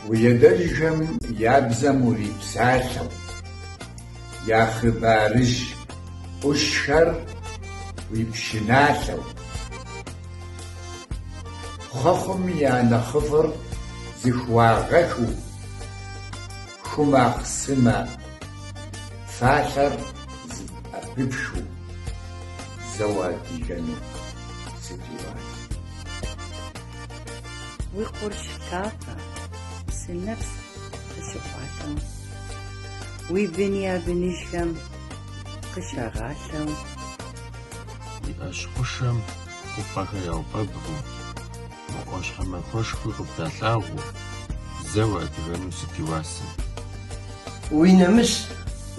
Уи адэжьхэм я бзэм урипсалъэу, я хъыбарыжь ӏущхэр уи пшыналъэу, хъуэхъум я нэхъыфӏыр зыхуагъэхыу, Ху махъсымэ фалъэр зэӏэпыпхыу зэ уадыгэну сыт и уасэ? Уи къурш лъапэ псынэпс къыщыкъуалъэу, уи бын я быныжхэм къыщагъалъэу. Уи ӏэщ хъушэм хъупӏэхэр яуфэбгъуу. Мы Ӏуащхьэмахуэшхуи къыбдалъагъуу, зэ уадыгэну сыт и уасэ? Уи нэмыс,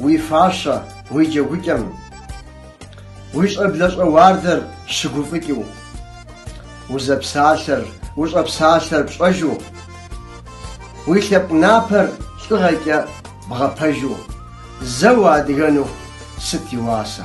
уи фащэ, уи джэгукӏэм. Уи щӏэблэщӏэ уардэр щыгуфӏыкӏыу. Узэпсалъэр, ущӏэпсалъэр пщӏэжу. Уи лъэпкъ напэр лӏыгъэкӏэ бгъэпэжу, зэ уадыгэну сыт и уасэ?